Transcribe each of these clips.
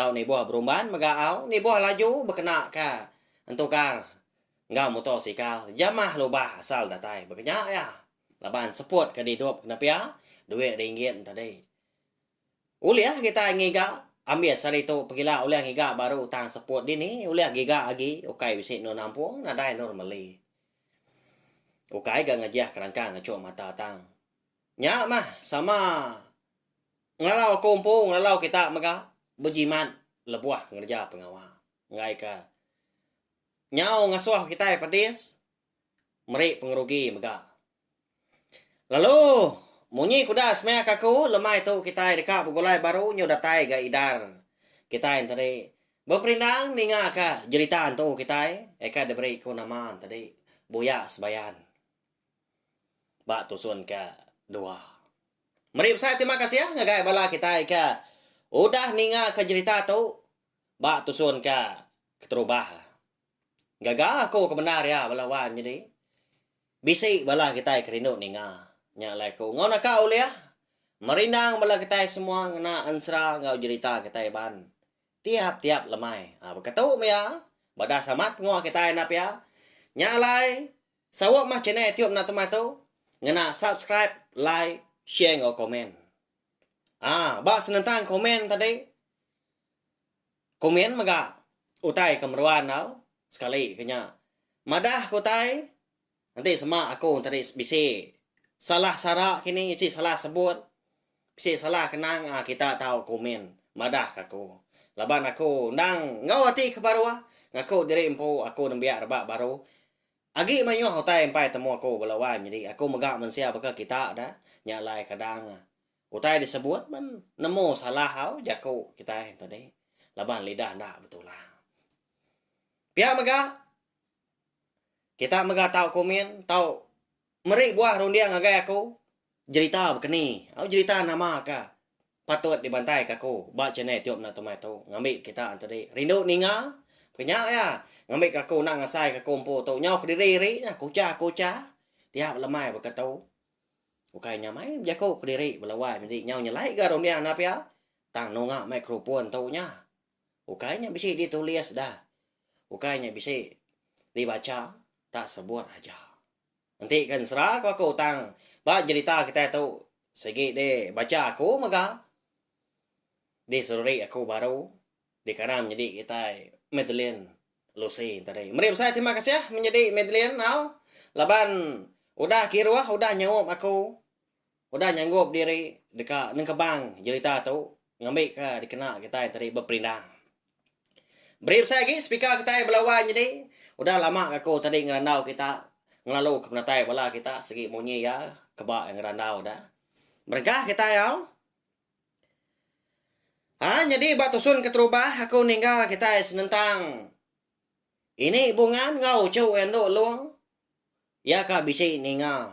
tau nibuh berumban mega au nibuh laju bekena ka entukar enggau muto sikal jamah lubah asal datai bekenya iya laban seput ke didup kena pia duit ringgit enta dei ulih kitai ngiga ambis ari tu pegila ulih ngiga baru utang seput dini ulih giga agi ukai bisi endur nampung nadai endur meli ukai ga ngejah kerangkang ngechu mata tang. Nya mah sama ngelalau aku empu ngelalau kita mega bejimat lebuh ngereja pengawa enggaika nyau ngasuh kitai pedis meri pengerugi mega. Lalu munyi ke udah semaya ke aku lemai tu kitai deka begulai baru nyau datai ga idar kitai enti tadi beperindang ninga ka jerita entu kitai eka diberi ku nama enti tadi buyak sebayan. ba tusun ke dua. Meri besai terima kasih ngagai bala kitai ke udah ninga ke jerita tu ba tusun ke keterubah. Gaga aku kebendar iya bala wan nyadi bisi bala kitai ke rindu ninga nya alai aku enggau naka ulih merindang bala kitai semua ngena ensera enggau jerita kitai ban tiap tiap lemai. Baka tu meh iya badas amat pengawa kitai enda pia nya alai Sawa mah channel Etiop enda temah tu ngena subscribe, like, share enggau komen. Ah, ba senentang komen tadi. Komen mega utai ke meruan tau. Sekali ke nya. Madah ke utai enti sema aku tadi bisi salah sara kini bisi salah sebut. Bisi salah kenang ah kita tau komen madah ke aku. Laban aku endang enggau ati ke baruh ngaku diri empu aku nembiak rebak baruh. Agi mayuh utai empai temu aku bala wan nyadi aku mega mensia baka kita da nya alai kadang utai disebut pan nemu salah au jaku kitai ento ni laban lidah enda betulang. Pia mega kita mega tau komen tau Meri buah runding ngagai aku jerita bekeni au jerita nama ka patut dibantai ka aku ba channel tiup enda tumai tu ngambi kita entudi rindu ninga kenya ya ngambi ka aku enda ngasai ka aku empu tu nyau kediri ri nya kucha kucha tiap lemai ba ka tu ukai nya mai bejaku kediri bala wai medi nyau nyelai ga runding enda pia tang nunga microphone tu nya ukai nya bisi ditulis da ukai nya bisi dibacha tak sebut aja. Enti ke ensera ko aku tang ba jerita kitai tu sigi di bacha aku mega di seruri aku baru di kana menyadi kitai Madeline Lucy tadi. Meri besai terima kasih menyadi Madeline enggau laban udah kiruh udah nyaup aku Udah nyanggup diri deka nengkebang jerita tu ngambika dikena kitai tadi beperindah. Beri besai agi speaker kitai bala wai nyadi. Udah lama gaku tadi ngerandau kita ngelaluka penatai bala kita sigi munyi iya keba iya ngerandau da. Berengkah kitai au. Ha nyadi ba tusun keterubah aku ningga kitai senentang ini bungan enggau uchu iya endu long. Iya ka bisi ninga.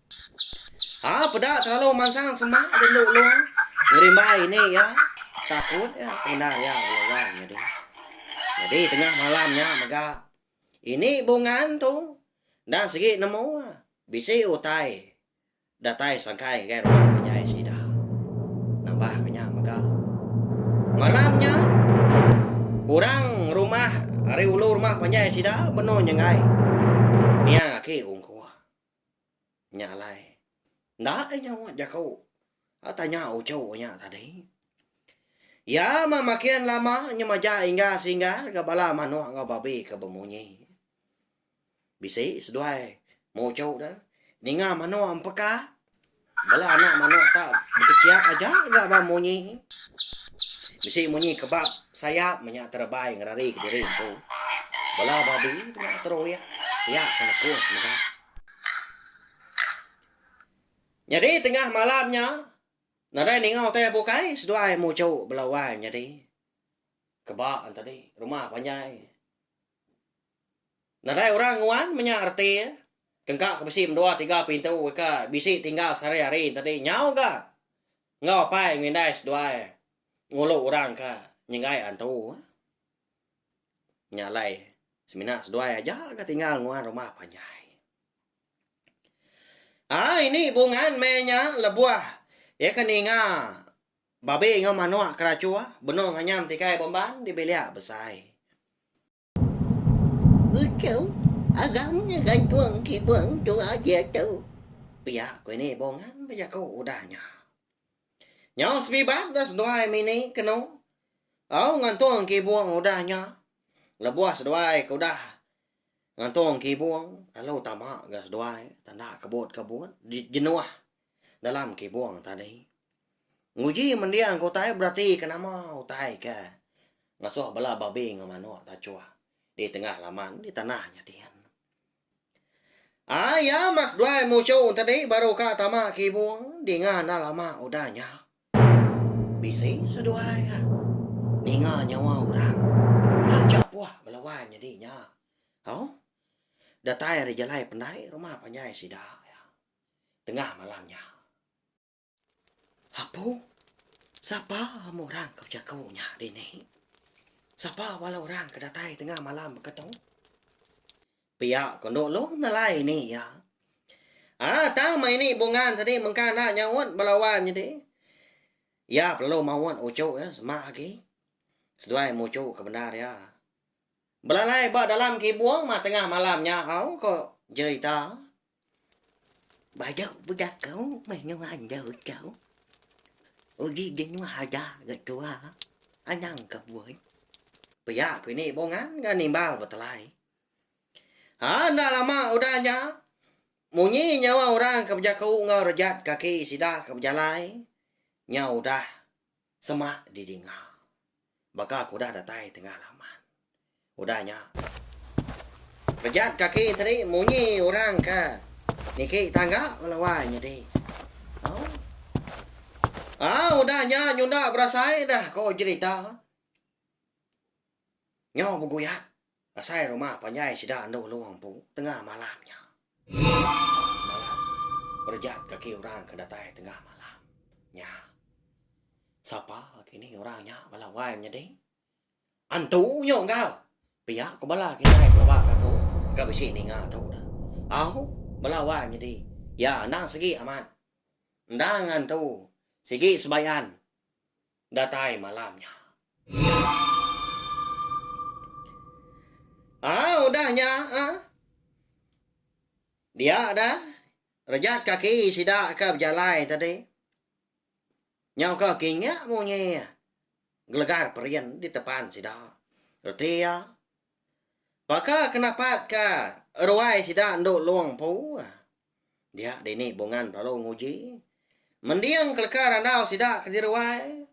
Ha peda terlalu mansang semak ke endu long ngerimbai ini ya. Takut ya punda ya belai jadi. Jadi tengah malam nya mega ini bungan tu dah segi nemu bisi utai datai sangkai ngagai rumah penyai sida. Nambah ke nya mega. Malam nya orang rumah ari ulu rumah penyai sida benung nyengai niang aki ungku. Nya alai, enda deh nyaut jaku ba tanya uchu nya tadi. Iya meh makin lama nyemaja Ingga Singgar enggau bala manuk enggau babi ke bemunyi. Bisi seduai muchu deh ninga manuk empeka Bala anak manok ta bekechiap aja ga ba munyi. Bisi munyi kebab sayap menya terebai ngerari kediri empu. Bala babi menya teroyak piak ke nekung semega. Nyadi tengah malam nya, nadai ninga utai bukai seduai muchu bala wai nyadi keba tadi rumah panjai. Nadai orang nguan menya reti iya. Tengka ke bisi mendua tiga pintu ika bisi tinggal sehari hari enti tadi nyau ga enggau apai enggau indai seduai ngulu orang ka nyenggai antu. Nya alai semina seduai aja ga tinggal nguan rumah panjai. Ai ini bungan meh nya lebuh iya ke ninga. Babi enggau manok ke rachua benong anyam tikai bomban di bilik besai. Utuh, agam nya gantung kibung tua diatu. Pia ku ini Bongan bejaku udah nya. Nyau sebibat dah seduai mini kenu au ngantung kibung udah nya. Lebuh seduai ke udah ngantung kibung lalu tama ga seduai tanda kebut-kebut jenuh. dalam kibung tadi. Nguji mending ke utai beratika nama utai ke ngasuh bala babi enggau manuk tachuh di tengah laman di tanah nya dian. Ai ya mas duai muchu tadi baru ka tama kibung dinga enda lama udah nya. Bisi seduai ka ninga nyawa orang. Taja puh bala wan nya dinya. Au. Datai ari jalai pendai rumah panjai sida. tengah malam nya. Apu, sapa amu orang ke bejaku nya dini? Sapa bala orang ke datai tengah malam mega tu? Pia ko Endok Long nalai ni iya. Ah, tang mai ni bungan tadi mengka enda nyaut bala wan nyadi. Iya perlu maut uchu iya semak agi. Seduai muchu ke bendar iya. Belalai ba dalam kibung ma tengah malam nya au ko jerita. Baju bejaku menua endur tu. Uji dinua haja ga tua anang kebun. Pia ku ini bungan ga nimbal betelai. Ha enda lama udah nya munyi nyawa orang ke bejaku enggau rejat kaki sida ke bejalai nya udah. Semak di dinga. Baka aku udah datai tengah laman. Udah nya. Pejat kaki teri munyi orang ke niki tangga ngelawai nyadi. Oh. Ah, udah nya nyunda berasai dah ko jerita. Nyau beguyat. Asai rumah panjai sida andu anu empu tengah malam nya. Malam berejat kaki orang ke datai tengah malam nya. Sapa kinih orang nya bala wai menyadi? Antu nyu enggau. Pia ku bala kitai pelaba ke aku ka bisi ninga tu dah. Au bala wai menyadi. Ya endang sigi amat. Endang antu sigi sebayan. Datai malam nya. Au udah nya ah. Dia dah rejat kaki sida ke bejalai tadi. Nyau ke kinya munyi gelegar perin di tepan sida. Reti iya. Baka ke napat ke ruai sida endu long empu. Dia dini Bungan lalu nguji. Mending keleka randau sida ke diruai.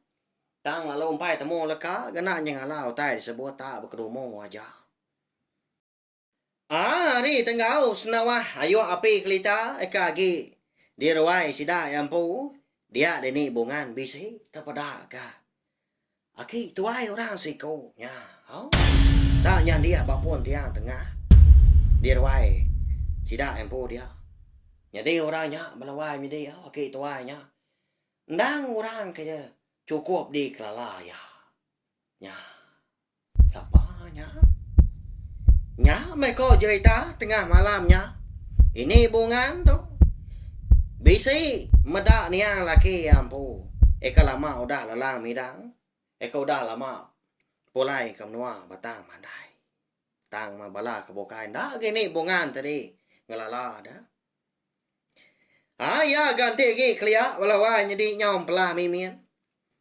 Tang lalu empai temu leka kena nyengala utai disebut tak bekedumu aja. Ah, hari tenggau senawah ayuh api kelita eka agi diruai sida iya empu. Dia dini Bungan bisi tepeda ka. Aki tuai orang siku nya. Au. Enda nya andi ba pun tiang tengah di ruai sida empu dia. Nyadi orang nya belawai midi au aki tuai nya. Endang orang ke chukup dikelala iya. Nya. Sapa nya? Nya meh ko jerita tengah malam nya. Ini bungan tu. Bisi meda niang laki iya empu. Eka lama udah lalang midang. Eka udah lama pulai ke menua batang mandai. Tang meh bala ke bukai enda gini bungan tadi ngelala deh. Haa iya ga enti agi kelia bala wai nyedi nyau empelah mimin.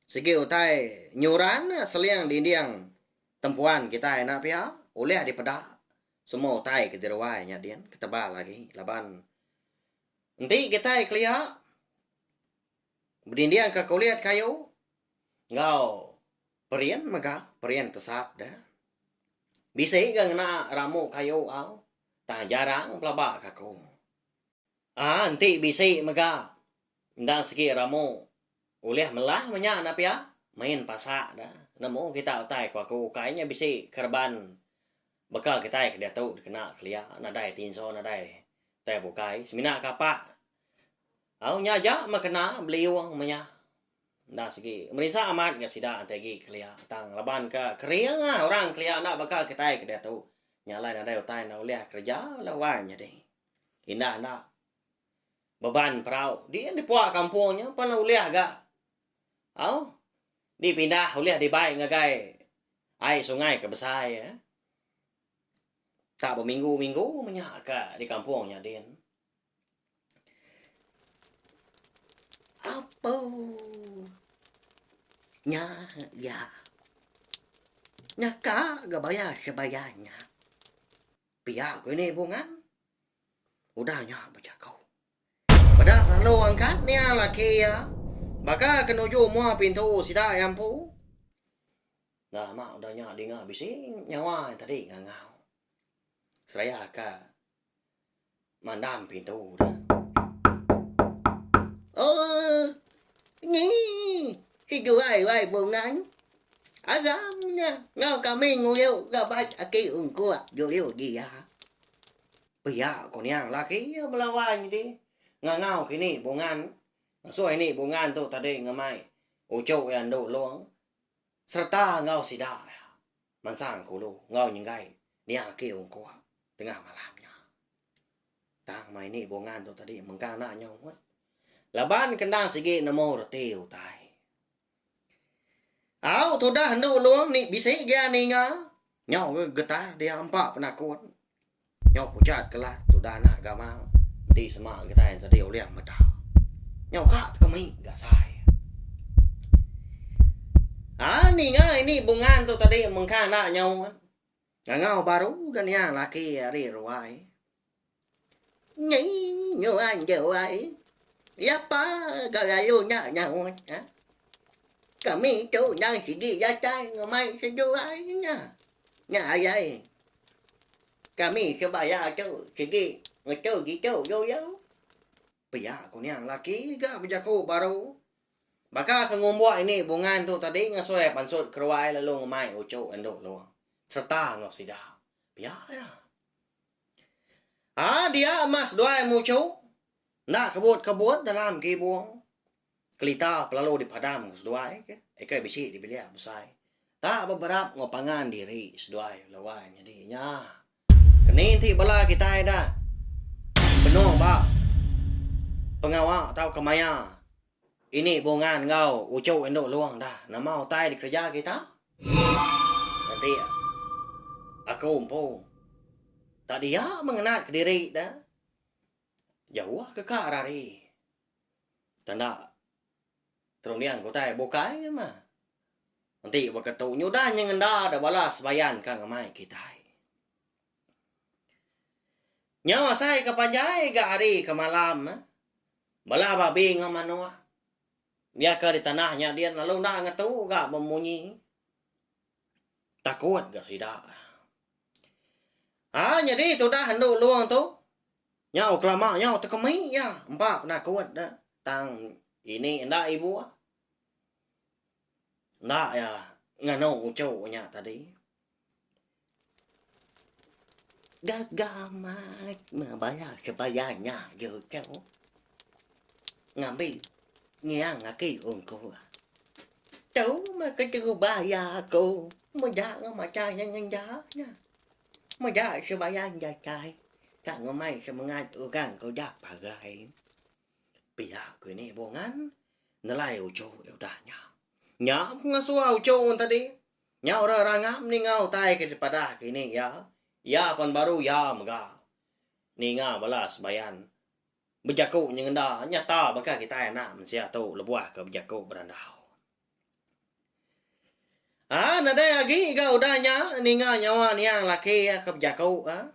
Sigi utai nyuran seling dinding tempuan kitai ena pia ulih dipeda semua utai ke diri wai nya din ketebal agi laban enti kitai kelia bedindingka kulit kayu enggau. Perin mega perin tesap da. Bisi ga ngena ramu kayu au tang jarang pelaba ka aku. Aa enti bisi mega enda sigi ramu ulih melah meh nya enda pia main pasak da nemu kita utai ku aku ukai nya bisi kereban baka kitai ke diatu dikena kelia nadai tinso nadai tai bukai semina kapa au nya aja meh kena beliung meh nya. Enda sigi merinsa amat enggau sida enti agi kelia tang laban ke kering lah orang kelia enda baka kitai ke diatu nya alai nadai utai enda ulih kereja bala wai nyadi indah enda beban perau diin dipua kampung nya pan ulih ga au dipindah ulih dibai ngagai ai sungai ke besai eh tak beminggu-minggu menya ka di kampung nya din. Apau nya iya. Nyaka ga bayar sebaya nya. Pia ku ini bungan. Udah nya bejaku. Peda lalu angkat nia laki iya. Baka ke nuju mua pintu sida iya empu. Lama udah nya dinga bisi nyawa iya tadi ngangau. Seraya ka. Mandam pintu da. Ooh. Nyi. Kejuai wai bungan. Aram nya enggau kami nguyuk gaban aki ungkup juyu dia. Pia ku niang laki iya belawai enti ngangau ke ni bungan. Ngasoi ni bungan tu tadi ngemai uchu iya endu long sereta enggau sida iya. Mansang kulu enggau nyenggai nia aki ungkup tengah malam nya. Tang mai ni bungan tu tadi mengkang enda nyau mut. Laban ke enda sigi nemu reti utai. Au tudah endu long ni bisi gia ninga nyau getar dia empa penakun. Nyau pujat ke lah tudah anak gamang enti sema kitai ensadi uling meda. Nyau ka tekemi ga sai. Ha ninga ini bungan tu tadi mengka enda nyau kan. Ngangau baru ga niang laki ari ruai. Nying nyuan juai. Ya pa ga lalu enda nyau ha. Kami tu endang sigi datai ngemai sejuai nya. Nya ayai kami ke baya tu sigi ngetu gitu yo-yo. Pia ku nya laki ga bejaku baru. Baka ke ngumbuk ini bungan tu tadi ngasoi pansut keruai lalu ngemai uchu endu lu serta enggau sida. Pia ya. Aa dia mas duai muchu enda kebut-kebut dalam gibung. Kelita pe lalu dipadam ke seduai ke ika bisi dibilik besai ta beberap enggau pangan diri seduai lawan nyadi inya. Keni ti bala kitai da benung ba pengawa tauka maya ini bungan enggau uchu indu long da nama utai dikereja kita enti aku empu tak dia meng ngenat kediri da. Jauh ke ka rari. Tanda terunding ke utai bukai ke mah. Enti baka tu nyudah nyeng enda da bala sebayan ka ngamai kitai. Nyau asai ke panjai ga hari ke malam eh. Bala babi enggau manok. Biaka di tanah nya din lalu enda ngetu ga bemunyi. takut ga sida. Ha nyadi tudah endu long tu nyau kelama nyau tekemi ya empa penakut da tang ini enda ibu enda ya nganu uchu nya tadi. Gaga amat meh baya kebaya nya je ko. ngambi ngiang aki ungku. Tu meh ke telu baya aku meda enggau macha nya ngeja nya. Meda sebayan jatai ka ngemai semengat orang ke udah parai. Pia ku ini bungan nelai uchu iya udah nya. Nya pengasua uchu tadi. Nya orang rangap ninga utai ke dipadah kini iya. Iya pan baru iya mega ninga bala sebayan. Bejaku nyengenda nyata baka kitai anak mensia tu lebuh ke bejaku berandau. Ha nadai agi ga udah nya ninga nyawa niang laki iya ke bejaku ha.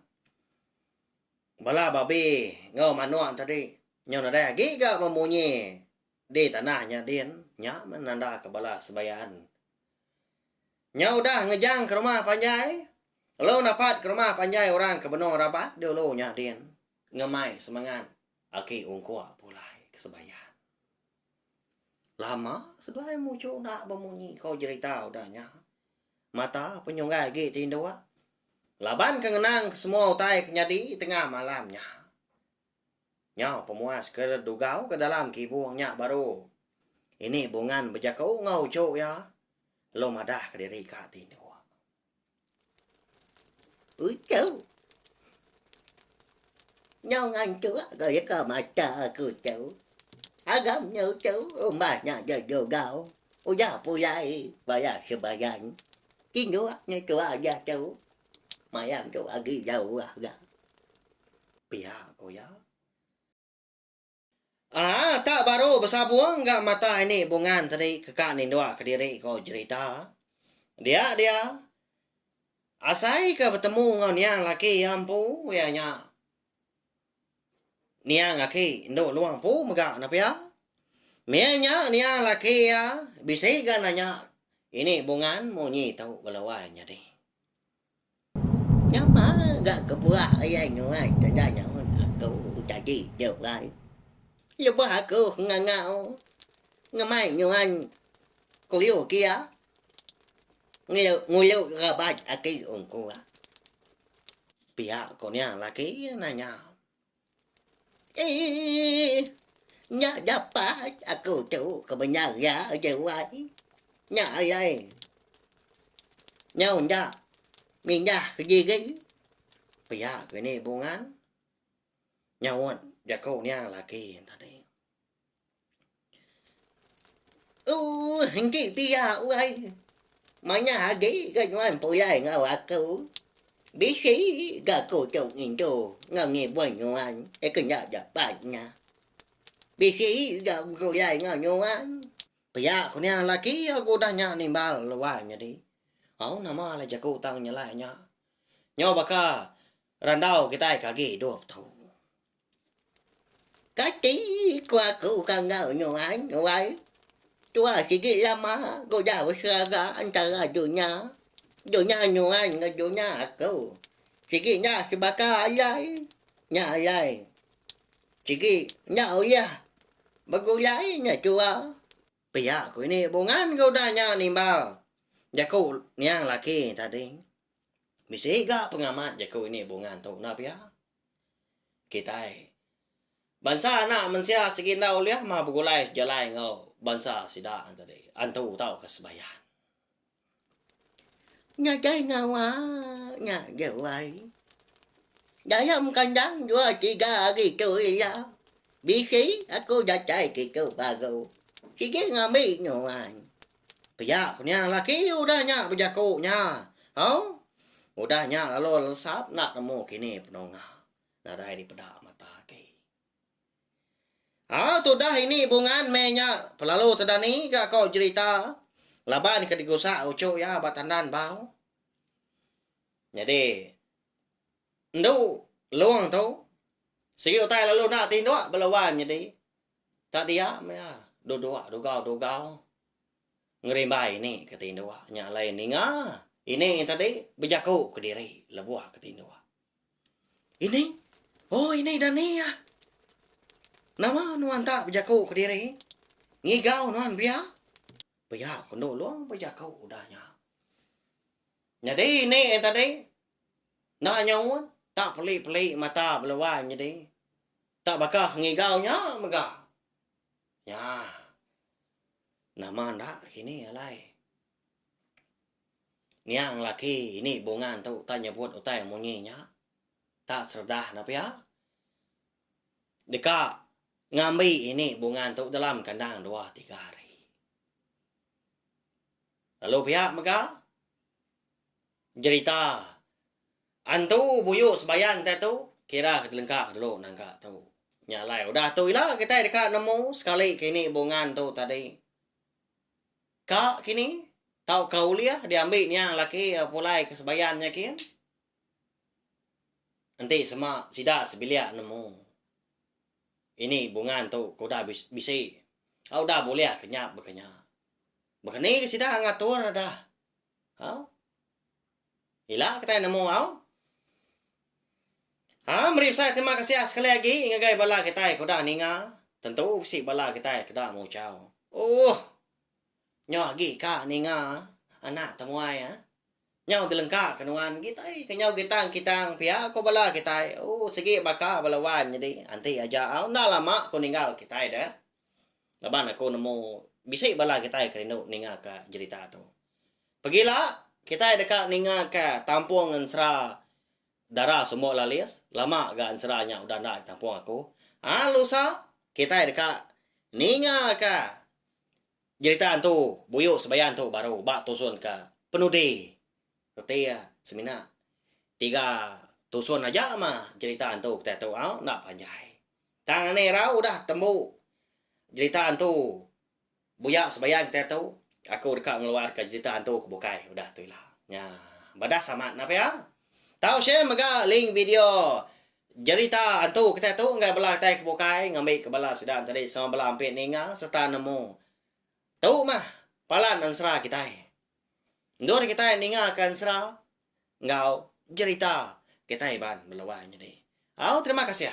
Bala babi enggau manuk tadi nyau nadai agi ga bemunyi di tanah nya din, nya menandaka bala sebayan. Nyau udah ngejang ke rumah panjai, lalu napat ke rumah panjai orang ke benung rabat dulu nya din. Ngemai semengat agi ungkup pulai ke sembayan. Lama seduai muchu enda bemunyi ko jerita udah nya. Mata penyunggai agi ti induk. Laban ke ngenang ke semua utai ke nyadi tengah malam nya. Nyau pemuas ke dugau ke dalam kibung nya baru ini bungan bejaku enggau uchu iya lalu madah ke diri ka ti induk. Uchu. Nyau ngantu aku ika mata aku tu. Agam nya uchu umbah nya ja jugau. Uja puyai baya sebayan. Indu nya tua aja tu. Mayam tu agi jauh ga. Pia ku iya. Aa tak baru besabung ga mata ini bungan tadi keka nindok kediri ko jerita. Dia dia asai ke betemu ngau niang laki iya empu iya nya niang aki endu luang empu mega na pia. Meh nya niang laki iya bisi ga nanya ini bungan munyi tu bela wai nyadi. Nama ga ke buah iya nyuai te enda nyaut aku tadi juk alai. Lebuh aku ngangau ngemai nyuan kuyo ke iya ngulu ngulu raban aki ungku iya. Pia ku nya laki iya nanya. Eii nya dapat aku tu kemenyan iya aja wai nya ayai nyau enda mindah ke gigi pia ke ni bungan nyaut jaku nya laki tadi. Ooh engki pia wai manah agi ke nuan pulai enggau aku. Bisi ga aku tu ngintu enggau ngibun nuan eh ke enda dapat nya. Bisi ga aku pulai enggau nuan. Pia ku nya laki aku udah nya nimbal luan nyadi. Au nama lah jaku tang nyelai nya. Nyau baka randau kitai ke agi idup tu. Kati ku aku ke enggau Nuan, Nuai? Tuah sigi lama ku da beseraga entara dunya, dunya Nuan enggau dunya aku. Sigi enda sebaka alai, nya alai. Sigi enda ulih begulai nya tua. Pia ku ini bungan ke udah nya nimbal jaku niang laki tadi. Bisi ga pengamat jaku ini bungan tu enda pia. kitai. Bansa anak mensia sigi enda ulih mah begulai jalai enggau bansa sida tadi antu tauka sembahyang. Ngagai ngawa nya jawai. Dayam kandang dua tiga hari tu iya. Bisi aku datai kitu paguh. Sigi ngambi nuan. Pia ku nya laki udah nya bejaku nya. Au. Udah nya lalu lensap enda nemu kini penunga. Nadai dipeda mata agi. Au tudah ini bungan meh nya pelalu tedani ga ko jerita laban ke digusa uchu iya ba tandan bau. Nyadi endu long tu sigi utai lalu enda tinduk bala wang nyadi. Tak dia maya duduk dugau-dugau ngerimbai ni ke tinduk nya alai ninga ini tadi bejaku kediri lebuh ke tinduk. Ini? Oh ini dani ah. Nama nuan tak bejaku kediri? Ngigau nuan bia? Pia ku Endur Long bejaku udah nya. Nyadi ini tadi enda nyaut tak peli-peli mata bela wai nyadi. Tak baka ngigau nya mega. Nya. Nama enda kini alai. Niang laki ini bungan tu tak nyebut utai munyi nya. Tak seredah enda pia. Deka ngambi ini bungan tu dalam kandang dua tiga hari. Lalu pia mega jerita Antu buyu sebayan kitai tu kira ke telengka dulu nangka tu. Nya alai udah tu ila kitai deka nemu sekali ke ini bungan tu tadi. Ka kini tauka ulih diambi nia laki pulai ke sebayan nya kin. Enti sema sida sebilik nemu ini bungan tu ke udah bisi au udah bulih ke nya baka nya. Baka ni ke sida ngatur dah. Au. Ila kitai nemu au. Ha meri besai terima kasih ah sekali agi ngagai bala kitai ke udah ninga. Tentu bisi bala kitai ke da muchau. Ooh. Nyau agi ka ninga anak temuai ah. Nyau dilengka ke nuan kitai ke nyau gitang-kitang pia ko bala kitai. Ooh sigi baka bala wan nyadi anti aja au enda lama ko ninggal kitai deh. Laban aku nemu bisi bala kitai ke rindu ninga ka jerita tu. Pegila kitai deka ninga ka tampung ensera Dara Sumbok Lalis, lama ga ensera nya udah enda ditampung aku. Ha lusa kitai deka ninga ka jerita entu buyu sebaya entu baru ba tusun ka penudi reti iya semina tiga tusun aja mah jerita entu kitai tu au enda panjai. Tang anih irau udah tembu jerita hantu buya sebayan kitai tu, aku deka ngeluarka jerita hantu ke bukai udah tu ila. Nya, badas amat nah pia. Tau share mega link video jerita hantu kitai tu ngagai bala kitai ke bukai ngambika bala sida enti ari sama bala ampi ninga sereta nemu. Tu mah palan ensera kitai. Endur kitai ningaka ensera, enggau jerita kitai Iban Meluai nyadi. Au terima kasih.